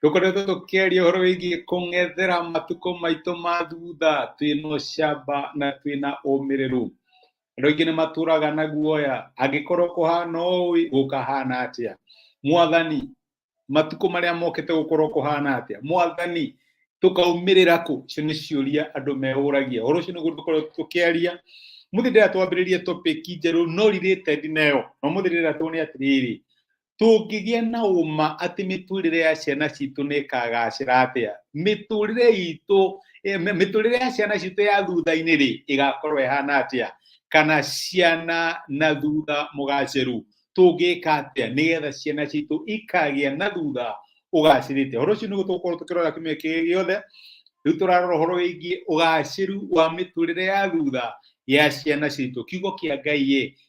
Tũkoretwo tũkĩaria ũhoro wĩgiĩ kũng'ethera matukũ maitũ ma thutha twĩna ũcamba na twĩna ũmĩrĩru. Andũ aingĩ nĩ matũraga na guoya, angĩkorwo kũhana ũĩ gũkahana atĩa? Mwathani, matukũ marĩa mokĩte gũkorwo kũhana atĩa? Mwathani, tũkaumĩrĩra kũ? Icio nĩ ciũria andũ meũragia. Ũhoro ũcio nĩguo tũkorwo tũkĩaria. Mũthĩ ndĩra twambĩrĩrie topic njerũ no rirĩte ndinayo. Na mũthĩ ndĩra tuone atĩrĩrĩ, tũngĩgĩa na ũma atĩ mĩtũrĩre ya ciana citũ nĩ ĩkagacĩra atĩa mĩtũrĩre itũ eh, mĩ- mĩtũrĩre ya ciana citũ ya thutha-inĩ rĩ ĩgakorwo ĩhana atĩa kana ciana na thutha mũgacĩru tũngĩka atĩa nĩgetha ciana citũ ikagĩa na thutha ũgacĩrĩte ũhoro ũcio nĩguo tũgũkorwo tũkĩrora kiumia kĩrĩ gĩothe rĩu tũrarora ũhoro wĩgiĩ ũgacĩru wa mĩtũrĩre ya thutha ya ciana citũ kiugo kĩa ngai ĩ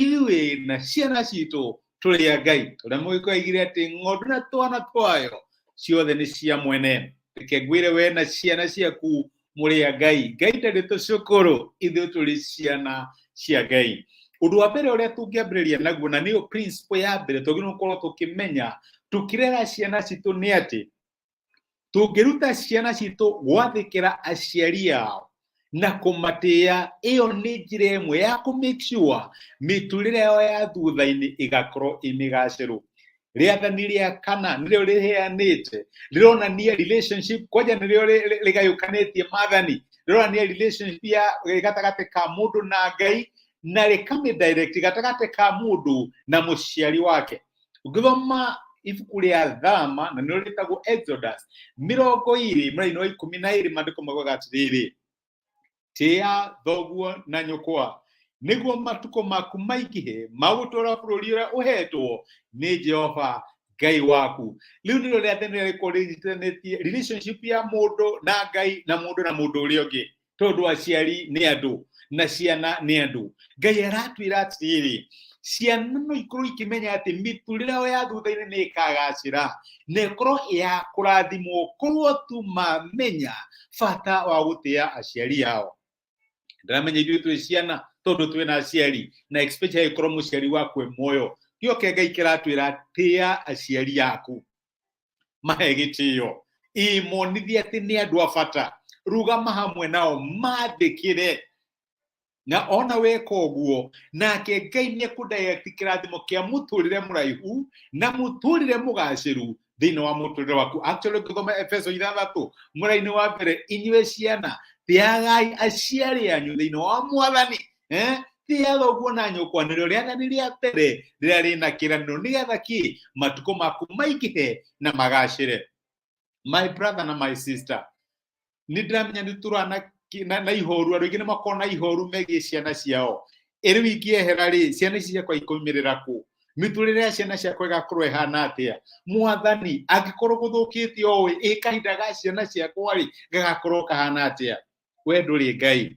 ithuĩ na ciana citũ tũrĩ a ngai ũrĩa mũgĩkwa aigire atĩ ng'ondu na twana twayo ciothe nĩ cia mwene reke ngwĩre we na ciana ciaku mũrĩ a ngai ngai ndarĩ tũcũkũrũ ithuĩ tũrĩ ciana cia ngai ũndũ wa mbere ũrĩa tũngĩambĩrĩria naguo na nĩyo principle ya mbere twagĩrĩirwo gũkorwo tũkĩmenya tũkĩrera ciana citũ nĩ atĩ tũngĩruta ciana citũ gwathĩkĩra aciari ao na kũmatĩa ĩyo nĩ njĩra ĩmwe ya kũ make sure mĩtũrĩre yao ya thutha-inĩ ĩgakorwo ĩ mĩgacĩru rĩathani rĩa kana nĩrĩo rĩheanĩte rĩronania relationship kwanja nĩrĩo rĩ- rĩ- rĩgayũkanĩtie mathani rĩronania relationship ya ĩ gatagatĩ ka mũndũ na ngai na rĩkamĩdirect gatagatĩ ka mũndũ na mũciari wake ũngĩthoma ibuku rĩa thama na nĩrĩo rĩtagwo exodus mĩrongo ĩrĩ mũraini wa ikũmi na ĩrĩ maandĩko maugaga atĩrĩrĩ tĩa thoguo na nyũkwa nĩguo matukũ maku maingĩhe magũtũra bũrũri ũrĩa ũhetwo nĩ jehova ngai waku rĩu nĩrĩo rĩa tene rĩrĩa rĩkorwo rĩnyitithanĩtie relationship ya mũndũ na ngai na mũndũ na mũndũ ũrĩa ũngĩ tondå aciari nä andå na ciana nä andå ngai aratwä ra atirä rä ciana no ikorwo ikĩmenya atĩ mĩtũrĩre yao ya thutha-inĩ nĩ ĩkagacĩra na ĩkorwo ĩ ya kũrathimwo korwo tu mamenya bata wa gũtĩa aciari ao ndiramenya ithuĩ twĩ ciana tondũ twĩ na aciari na especially angĩkorwo mũciari waku e muoyo gĩoke ngai kĩratwĩra tĩa aciari aku mahe gĩtĩo ĩmonithia atĩ nĩ andũ a bata rugama hamwe nao mandĩkĩre na ona weka ũguo nake ngai nĩ kũndaĩti kĩrathimo kĩa mũtũrĩre mũraihu na mũtũrĩre mũgacĩru thĩinĩ wa mũtũrĩre waku actually ngĩthoma efeso ithathatũ mũrainĩ wa mbere inyuĩ ciana teagai aciari anyu thĩinĩ wa mwathani eh thiaga ũguo na nyũkwanĩrĩro rĩathani rĩa mbere rĩrĩa rĩna kĩranĩro nĩgetha kĩ matukũ maku maingĩhe na magacĩre my brother na my sister nĩ ndĩramenya nĩ tũrana na, na ihoru andå aingä nä makona ihoru megiä ciana ciao ä rä u ingĩehera rä ciana ici ciakwa ikaumä rä ra kå mä tå rä re ya ciana ciakwa ĩgakorwo ĩhana atä a mwathani angä korwo gå thå kä te oä ä kahinda ga ciana ciakwa rä gagakorwo kahana atä a we ndå rä ngai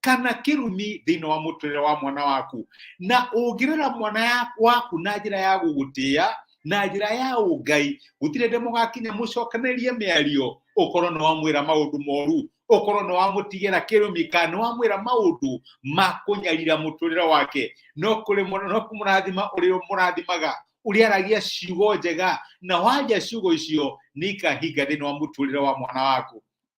kana kĩrumi thĩinĩ wa mũtũrĩre wa mwana waku na ũngĩrera mwana ya- waku na njĩra ya gũgũtĩa na njĩra ya ũngai gũtirĩ ndĩ mũgakinya mũcokanĩrie mĩario ũkorwo nĩ wamwĩra maũndũ moru ũkorwo nĩ wamũtigĩra kĩrumi kana nĩ wamwĩra maũndũ ma kũnyarira mũtũrĩre wake no kũrĩ mũ- no kũmũrathima ũrĩa mũrathimaga ũrĩa aragia ciugo njega na wanja ciugo icio nĩ ikahinga thĩinĩ wa mũtũrĩre wa mwana waku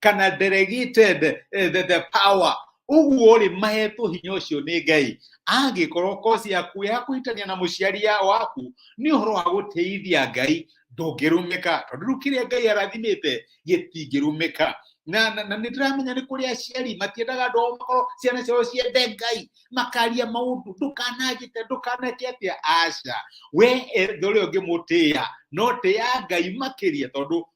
kana delegated eh, the, the power uguo rĩ mahetwo hinya ũcio nĩ ngai angĩkorwo kosi yaku ya kũhĩtania na mũciari ya waku nĩ ũhoro wa gũteithia ngai ndũngĩrũmĩka tondũ rĩu kĩrĩa ngai arathimĩte gĩtingĩrũmĩka na, na, na nĩ tũramenya nĩ kũrĩ aciari matiendaga andũ ao makorwo ciana ciao ciende ngai makaria maũndũ ndũkananjĩte ndũkaneke atĩa aca we ethe ũrĩa ũngĩmũtĩa no tĩa ngai makĩria tondũ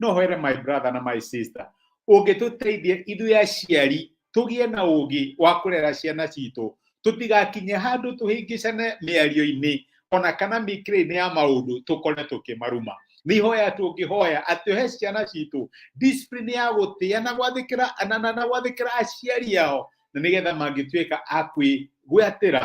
no hwere my brother na my sister ũngĩtũteithie ithuĩ aciari tũgĩe na ũgĩ wa kũrera ciana citũ tũtigakinye handũ tũhĩngĩcane mĩario-inĩ ona kana mĩkĩrĩ-inĩ ya maũndũ tũkore tũkĩmaruma nĩ ihoya tũngĩhoya atĩ he ciana citũ discipline ya gũtĩa na gwathĩkĩra na, na, na gwathĩkĩra aciari ao na nĩgetha mangĩtuĩka a kwĩgwatĩra